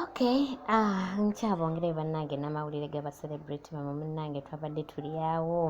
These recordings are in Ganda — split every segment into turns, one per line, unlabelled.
Okay, ah, nkyabongere bannange n'amawulire ga bacelebrity mama munnange twabadde tuli awo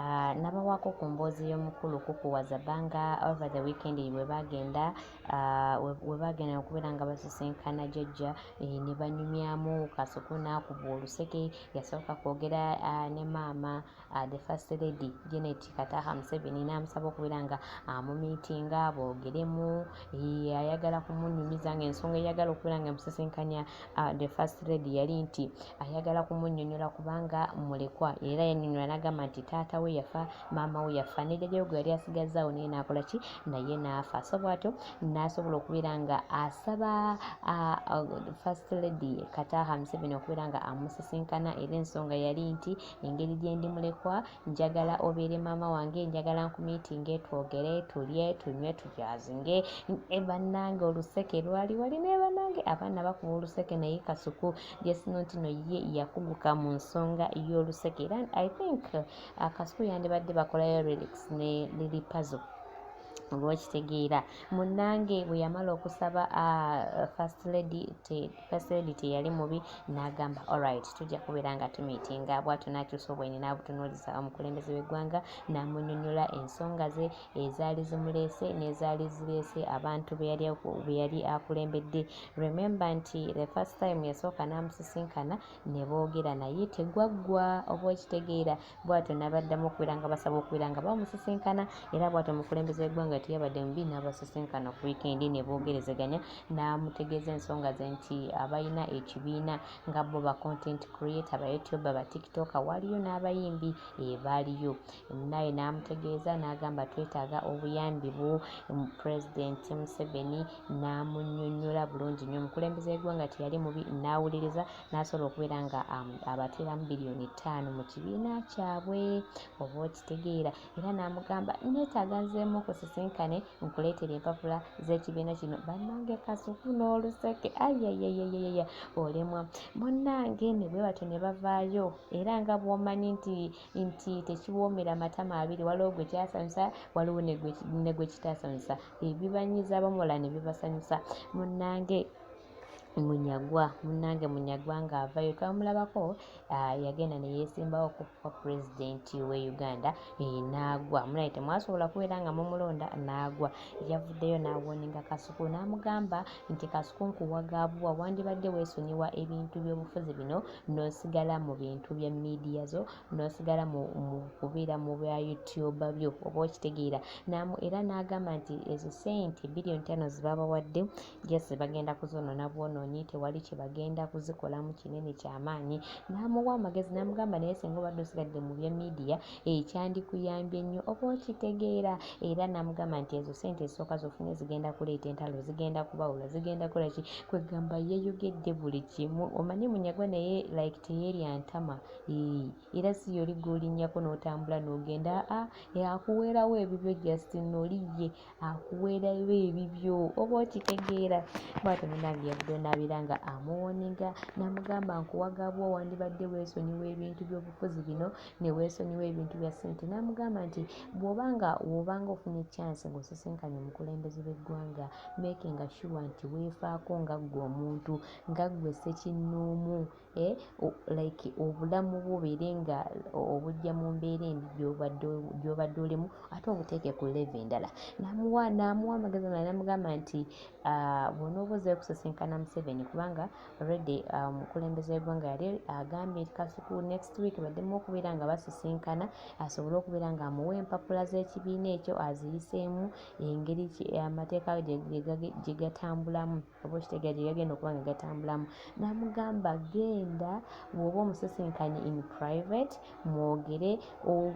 ah, nabawaako ku mboozi y'omukulu kukuwaza banga over the weekend we bagenda ah, we bagenda okubeera nga basisinkana jajja eh, ne banyumyamu kasuku n'akuba oluseke yasooka kwogera ah, ne maama uh, the first lady Janet Kataha Museveni n'amusaba okubeera nga amumiitinga uh, boogeremu ayagala kumunyumiza nga ensonga eyagala okubeera nga musisinkanya uh, the first lady yali nti ayagala kumunyonyola kubanga mulekwa era yanyonyola n'agamba nti taata we yafa maama we yafa ne jjajawe gwe yali asigazzaawo naye n'akola ki naye n'afa so bwatyo n'asobola okubeera nga asaba uh, uh, first lady Kataha Museveni okubeera nga amusisinkana era ensonga yali nti engeri gye ndi mulekwa njagala obeere maama wange njagala nkumiitinge twogere tulye tunywe tujazinge e bannange oluseke lwali wali naye bannange abaana bakuba oluseke naye kasuku jesino nti no ye yakuguka mu nsonga y'oluseke era i think uh, kasuku yandibadde bakolayo relics ne lili pazo olwokitegeera munnange bwe yamala okusaba uh, first lady Kaseedi teyali mubi n'agamba alright tujja kubeera nga tumiitinga bwatyo n'akyusa obwenyi n'abutunuuliza omukulembeze w'eggwanga n'amunyonyola ensonga ze ezaali zimuleese n'ezaali zireese abantu be yali akulembedde remember nti the first time yasooka n'amusisinkana ne boogera naye tegwaggwa oba okitegeera bwatyo nabaddamu okubeera nga basaba okubeera nga bamusisinkana era bwatyo omukulembeze w'eggwanga teyabadde mubi n'abasisinkana ku wiikendi ne boogerezeganya n'amutegeeza ensonga ze nti abalina ekibiina nga bo ba content creator ba youtuber ba tiktoker waliyo n'abayimbi ebaaliyo naye n'amutegeeza n'agamba twetaaga obuyambi bwo pulezidenti museveni n'amunyonyola bulungi nnyo omukulembeze w'eggwanga teyali mubi n'awuliriza n'asobola okubeera nga um, abateeramu biliyoni ttaano mu kibiina kyabwe oba okitegeera era n'amugamba neetaaga nzeemu kusisinkane nkuleetera empapula z'ekibiina kino bannange kasuku n'oluseke ayayayayaya olemwa munnange ne bwe batyo ne bavaayo era nga bw'omanyi nti nti tekiwoomera matama abiri waliwo gwe kyasanyusa waliwo ne gwe kitasanyusa ebibanyiza abamula ne bibasanyusa munnange munyagwa munnange munyagwa ng'avayo twamulabako ah, yagenda ne yeesimbawo okukuba pulezidenti w'e uganda eh, n'agwa munaye temwasobola kubeera nga mumulonda n'agwa yavuddeyo n'awoninga kasuku n'amugamba nti kasuku nkuwagaabubwa wandibadde weesonyiwa ebintu by'obufuzi bino n'osigala mu bintu bya miidiya zo n'osigala mu kubeera mu bya youtube byo oba okitegeera namu era n'agamba nti ezo ssente biliyoni tano zibabawadde jasi bagenda kuzonoona bwonoonyi tewali kye bagenda kuzikolamu kinene kyamaanyi n'amuwa amagezi n'amugamba naye singa obadde osigadde mu bya miidiya ekyandikuyambye ennyo oba okitegeera era namugamba nti ezo sente ezisooka zofunye zigenda kuleeta entalo zigenda kubawula zigenda kukola ki kwegamba yeyogedde buli kimu omanyi munyagwa naye like teyerya ntama era si yoli golinyako n'otambula n'ogenda a akuweerawo ebibyo just noli ye akuweerayo ebibyo oba okitegeera bwatyo munange yavudde onaabira nga amuwoniga namugamba nkuwagabwa wandibadde weesonyiwa ebintu by'obufuzi bino ne weesonyiwa ebintu bya ssente namugamba nti bwoba nga woba nga ofunye chance ng'osisinkanye omukulembeze b'eggwanga makinga sure nti weefaako nga ggwe omuntu nga ggwe ssekinnoomu eh, like obulamu bwo beere nga obujja mu mbeera embi gyobadde olimu ate obuteeke ku leve endala namuwa namuwa amagezi mala namugamba nti ah, bwonooba ozayo kusisinkana museveni kubanga redi ah, omukulembeze wegwanga yali agambye nti kasuku next week baddemu okubeera nga basisinkana asobole okubeera nga amuwa empapula z'ekibiina ekyo aziyiseemu engeri amateeka gyegatambulamu oba okitegera gye gagenda okuba nga gatambulamu namugamba genda bwoba omusisinkanye in private mwogere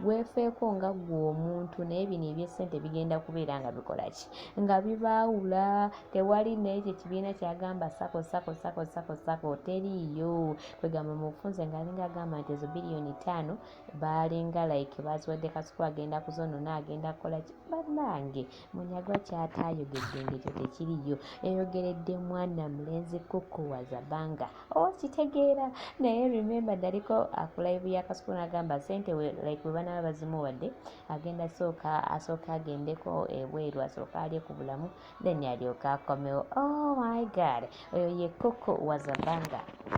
wefeeko nga gwe omuntu naye bino ebyesente bigenda kubeera nga bikola ki nga bibaawula tewali naye kye kibiina kyagamba sako sako sako sako sako teriiyo kwegamba mubufunze ngaalinga agamba nti ezo biliyoni taano baalinga like baziwadde kasuku agenda kuzonona agenda kukola ki bannange Munyagwa kyataayogedde ng'ekyo tekiriyo yayogeredde mwana mulenzi kukku wazabanga okitegeera oh, naye remember daliko akulayivu ya kasuku n'agamba sente like bwe banaaba bazimuwadde agenda sooka asooke agendeko ebweru asooke alye ku bulamu then alyoke akomewo oh my god oyo ye kukku wazabanga